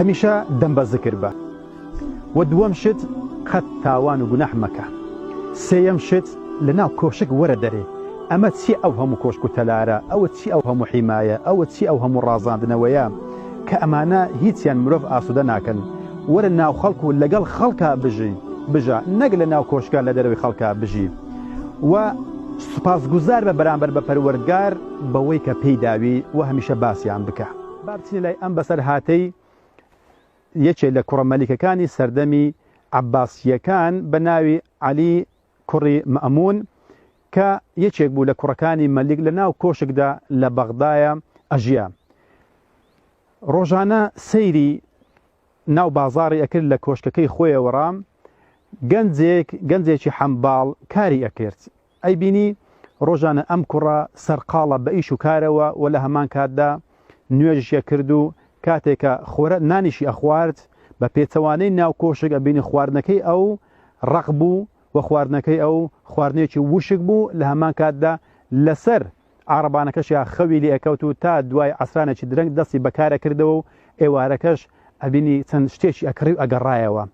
هەمیشە دەم بە زکر بە وە دووەم شت قەت تاوان و گوناح مەکە سێیەم شت لە ناو کۆشک وەرە دەرێ ئەمە چیە ئەو هەموو کۆشک و تەلارە ئەوە چی ئەو هەموو حیمایە ئەوە چی ئەو هەموو ڕازاندنەوەیە کە ئەمانە هیچیان مرۆڤ ئاسوودە ناکەن وەرە ناو خەڵک و لەگەڵ خەڵکا بژی بژە نەک لە ناو کۆشکە لە دەرەوەی خەڵکە بژی و سوپاسگوزار بە بەرامبەر بە پەروەردگار بەوەی کە پێی داوی و هەمیشە باسیان بکە با بچینە لای ئەم بەسەرهاتەی یەکێ لە کوڕە مەلیکەکانی سەردەمی عەباسییەکان بە ناوی عەلی کوڕی مەئموون کە یەکێک بوو لە کوڕەکانی مەلیک لە ناو کۆشکدا لە بەغدایە ئەژیا ڕۆژانە سەیری ناو بازاری ئەکرد لە کۆشکەکەی خۆیەوەڕام گەنجێک گەنجێکی حەمباڵ کاری ئەکرد ئەیبینی ڕۆژانە ئەم کوڕە سەرقاڵە بە ئیش و کارەوە و لە هەمان کاتدا نوێژیشی ئەکرد و کاتێکە خۆرە نانیشی ئەخوارد، بە پێچەوانەی ناو کۆشک ئەبینی خواردنەکەی ئەو ڕەق بوو و خواردنەکەی ئەو خواردنێکی ووشک بوو، لە هەمان کاتدا لە سەر عارەبانەکەشیا خەوی لێ ئەکەوت و تا دوای عەسرانێکی درەنگ دەستی بە کار ئەکردەوە و ئێوارەکەش ئەبینی چەند شتێکی ئەکڕی و ئەگەڕایەوە.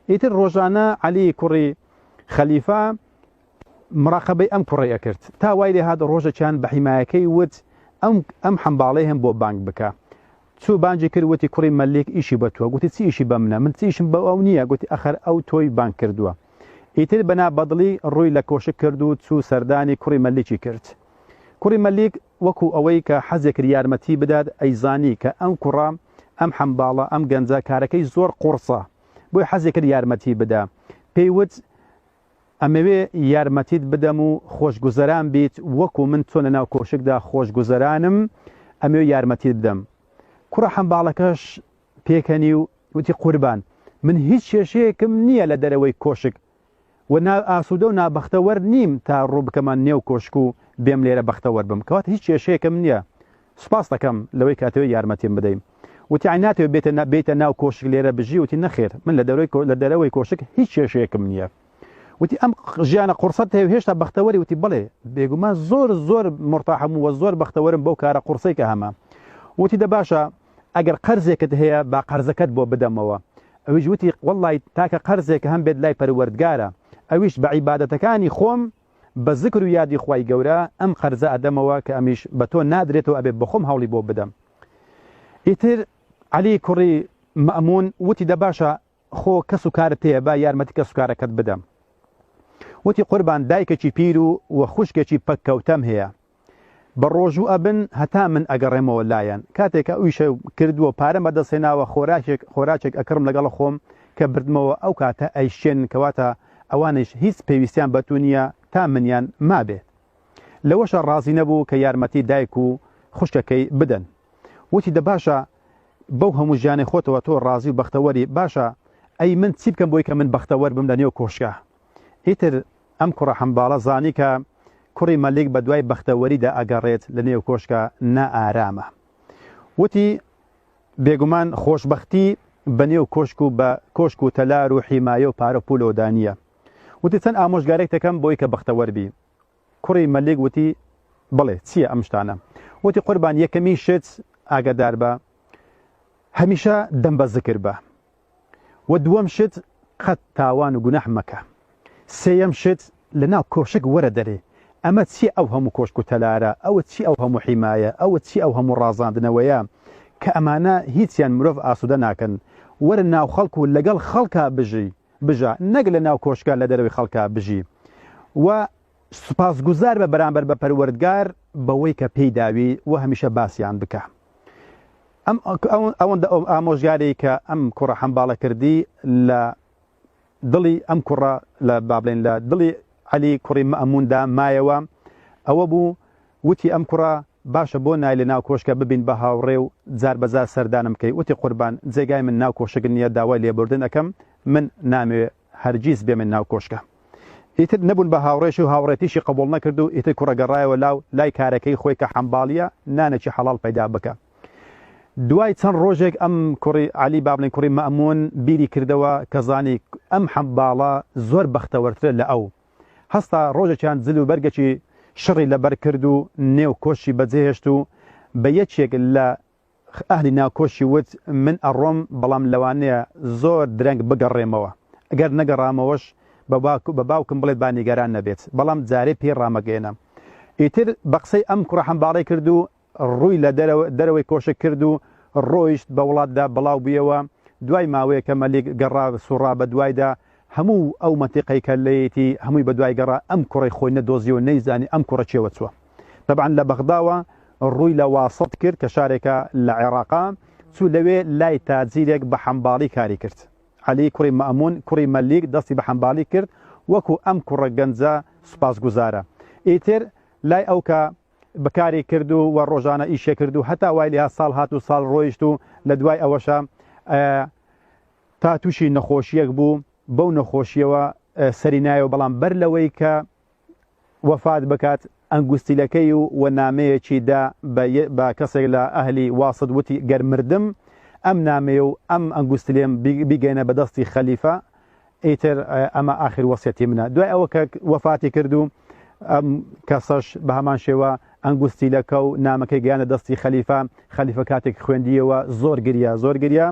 ئیتر ڕۆژانە عەلی کوڕی خەلیفە مراقەبەی ئەم کوڕەی ئەکرد تا وای لێ هات ڕۆژەکیان بە حیمایەکەی وت ئەم ئەم حەمباڵەی هەم بۆ بانگ بکە چوو بانجی کرد وتی کوڕی مەلیک ئیشی بە تووە گوتی چی ئیشی بە منە من چیشم بە ئەو نییە گوتی ئەخەر ئەو تۆی بانگ کردووە ئیتر بەنا بەدڵی ڕووی لە کۆشک کرد و چوو سەردانی کوڕی مەلیکی کرد کوڕی مەلیک وەکو ئەوەی کە حەزێ کرد یارمەتی بدات ئەیزانی کە ئەم کوڕە ئەم حەمباڵە ئەم گەنجە کارەکەی زۆر قوڕسە بۆی حەزێ کرد یارمەتی بدا پێی وت ئەمەوێ یارمەتیت بدەم و خۆشگوزەران بیت وەکو من چۆن لەناو کۆشکدا خۆشگوزەرانم ئەمەوێ یارمەتیت بدەم کوڕە حەمباڵەکەش پێکەنی و وتی قوربان من هیچ کێشەیەکم نییە لە دەرەوەی کۆشک و نا ئاسوودە و نابەختەوەر نیم تا ڕوو بکەمە نێو کۆشک و بێم لێرە بەختەوەر بم کەواتە هیچ کێشەیەکم نییە سوپاست دەکەم لەوەی کە ئەتەوێ یارمەتیم بدەی. وتی عەلی ناتەوێ بێتە بێیتە ناو کۆشک لێرە بژی؟ وتی نەخێر من لە دەرەوەی لە دەرەوەی کۆشک هیچ کێشەیەکم نییە. وتی ئەم ژیانە قوڕسەت هەیە و هێشتا بەختەوەری؟ وتی بەڵێ بێگومان زۆر زۆر مورتاحم و زۆر بەختەوەرم بەو کارە قوڕسەی کە هەمە. وتی دە باشە ئەگەر قەرزێکت هەیە با قەرزەکەت بۆ بدەمەوە. ئەویش وتی وەڵڵای تاکە قەرزێک هەم بێت لای پەروەردگارە ئەویش بە عیبادەتەکانی خۆم بە زکر و یادی خوای گەورە ئەم قەرزە ئەدەمەوە کە ئەمیش بە تۆ نادرێتەوە ئەبێ بەخۆم هەوڵی بۆ بدەم ئیتر عەلی کوڕی مەمون وتی دە باشە خۆ کەس و کارت هەیە با یارمەتی کەس و کارەکەت بدەم وتی قوربان دایکێکی پیر و و خوشکێکی پەککەوتەم هەیە بە ڕۆژوو ئەبن هەتا من ئەگەڕێمەوە لایان کاتێک ئەو ئیشە کرد و پارەم بەدەست هێناوە خۆراکێک خۆراکێک ئەکڕم لەگەڵ خۆم کە بردمەوە ئەو کاتە ئەیشکێنن کەواتە ئەوانیش هیچ پێویستیان بە تو نییە تا منیان مابێت لەوەشە ڕازی نەبوو کە یارمەتی دایک و خوشکەکەی بدەن وتی دە باشە بەو هەموو ژیانی خۆتەوە تۆ ڕازی و بەختەوەری باشە ئەی من چی بکەم بۆی کە من بەختەوەر بم لە نێو کۆشکە ئیتر ئەم کوڕە حەمباڵە زانی کە کوڕی مەلیک بە دوای بەختەوەریدا ئەگەڕێت لە نێو کۆشکە نائارامە. وتی، بێگومان خۆشبەختی بە نێو کۆشک و بە کۆشک و تەلار و حیمایە و پارە و پوولەوەدا نییە. وتی، چەند ئامۆژگاریێک دەکەم بۆی کە بەختەوەر بی. کوڕی مەلیک وتی، بڵێ چییە ئەم شتانە؟ وتی، قوربان یەکەمین شت ئاگەدار بە هەمیشە دەم بە زکر بە. وە دووەم شت قەت تاوان و گوناح مەکە سێیەم شت لە ناو کۆشک وەرە دەرێ ئەمە چیە ئەو هەموو کۆشک و تەلارە ئەوە چی ئەو هەموو حیمایە ئەوە چی ئەو هەموو ڕازاندنەوەیە کە ئەمانە هیچیان مرۆڤ ئاسودە ناکەن وەرە ناو خەڵک و لەگەڵ خەڵکا بژی بژە نەک لە ناو کۆشکە لە دەرەوەی خەڵکا بژی وە سوپاس گوزار بە بەرامبەر بە پەروەردگار بەوەی کە پێی داوی وە هەمیشە باسیان بکە. ئەم ئەوەندە ئەو ئامۆژگاری کە ئەم کوڕە حەمباڵە کردی لە دڵی ئەم کوڕە لە بابلین لە دڵی علی کوڕی مەموندا مایەوە ئەوە بوو وتی ئەم کوڕە باشە بۆ نای لە ناو کۆشکە ببین بە هاوڕێ و جار بەجار سەردانم کەی وتی قوربان جێگای من ناو کۆشک نییە داوای لێبوردن ئەەکەم من نامەوێ هەرگیز بێمن ناو کۆشکە. ئیتر نەبوون بە هاوڕێشی و هاوڕێتیشی قبوڵ نەکرد و ئیتر کوڕە گەڕایەوە لاو لای کارەکەی خۆی کە حەمباڵییە نانێکی حەڵاڵ پەیدا بکا. دوای چەند ڕۆژێک ئەم کوڕی عەلی با بڵێین کوڕی مەئموون بیری کردەوە کە زانی ئەم حەمباڵە زۆر بەختەوەرترە لە ئەو. هەستا ڕۆژێکیان جل و بەرگێکی شڕی لەبەر کرد و نێو کۆشکی بەجێهێشت و بە یەکێک لە ئەهلی ناوکۆشی وت، من ئەڕۆم، بەڵام لەوانەیە زۆر درەنگ بگەڕێمەوە. ئەگەر نەگەڕامەوەش، بە باوکم بڵێ با نیگەران نەبێت، بەڵام جارێ پێی ڕامەگەیەنە. ئیتر بە قسەی ئەم کوڕە حەمباڵی کرد و ڕووی لە دەرەوەی کۆشک کرد و ڕۆیشت، بە وڵاتدا بڵاو بوویەوە. دوای ماوەیەکە مەلیک گەڕا، سووڕا بەدوایدا. هەموو ئەو مەنتیقەی کە لێیەتی هەمووی بەدوای گەڕا ئەم کوڕەی خۆی نەدۆزی و نەیزانی ئەم کوڕە کێوە چووە تەبعەن لە بەغداوە ڕووی لە واسط کرد کە شارێکە لە عێڕاقا چوو لەوێ لای تاجیرێک بە حەمباڵی کاری کرد عەلی کوڕی مەئموون کوڕی مەلیک دەستی بە حەمبالی کرد وەکو ئەم کوڕە گەنجە سوپاسگوزارە ئیتر لای ئەو کە بەکاری کرد و وە ڕۆژانە ئیشێ کرد و هەتا وای لێها ساڵ هات و ساڵ ڕۆیشت و لە دوای ئەوەشە تا تووشی نەخۆشیەک بوو بەو نەخۆشیەوە سەری نایەوە بەڵام بەر لەوەی کە وەفات بکات ئەنگوستیلەکەی و و نامەیەکی دا بە کەسێک لە ئەهلی واسط وتی گەر مردم ئەم نامەیە و ئەم ئەنگوستلێم بیگەینە بەدەستی خەلیفە ئیتر ئەمە ئاخر وەسیەتی منە دوای ئەوە کە وەفاتی کرد و ئەم کەسەش بە هەمان شێوە ئەنگوستیلەکە و نامەکەی گەیاندە دەستی خەلیفە، خەلیفە کاتێک خوێندییەوە زۆر گریا، زۆر گریا،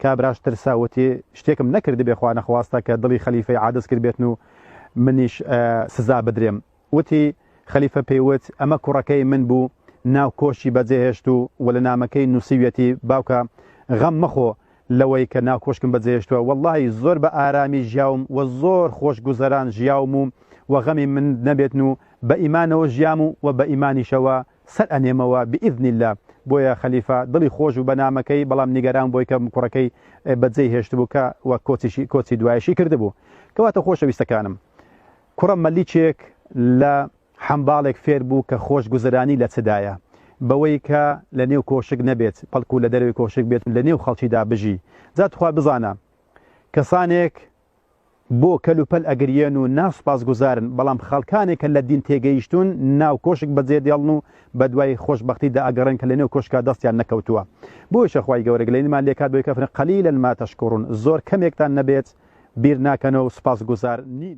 کابراش ترسا وتی، شتێکم نەکردبێ خوا نەخواستە کە دڵی خەلیفەی عادز کردبێتن و منیش سزا بدرێم. وتی، خەلیفە پێی وت، ئەمە کوڕەکەی من بوو، ناو کۆشی بەجێهێشتوو و لە نامەکەی نووسیویەتی، باوکە غەم مەخۆ، لەوەی کە ناو کۆشکم بەجێهێشتوە وەڵاهی زۆر بە ئارامی ژیاوم و زۆر خۆش گوزەران ژیاوم و و غەمی من نەبێتن و بە ئیمانەوە ژیام و و بە ئیمانیشەوە سەر ئەنێمەوە بئیزنی اللە بۆیە خەلیفە دڵی خۆش بوو بە نامەکەی بەڵام نیگەران بۆی کە کوڕەکەی بە جێی هێشتبوو کە و کۆچیشی کۆچی دوایشی کردبوو کەواتە خۆشەویستەکانم کوڕە مەلیکێک لە حەمباڵێک فێر بوو کە خۆش گوزەرانی لە چدایە، بەوەی کە لە نێو کۆشک نەبێت، بەڵکو لە دەرەوەی کۆشک بێت و لە نێو خەڵکیدا بژی. جا تخوا بزانە، کەسانێک بۆ کەل و پەل ئەگریێن و نا سوپاس گوزارن، بەڵام خەڵکانێک کە لە دین تێگەیشتوون ناو کۆشک بە جێ دێڵن و بە دوای خۆش بەختی دا ئەگەڕێن کە لە نێو کۆشکا دەستیان نەکەوتووە. بۆیشە خوای گەورە گلەییمان لێ کات بەوەی کە فەرمێ، قلیلا ما تشکرون، زۆر کەمێکتان نەبێت بیر ناکەنەوە و سوپاس گوزار نین.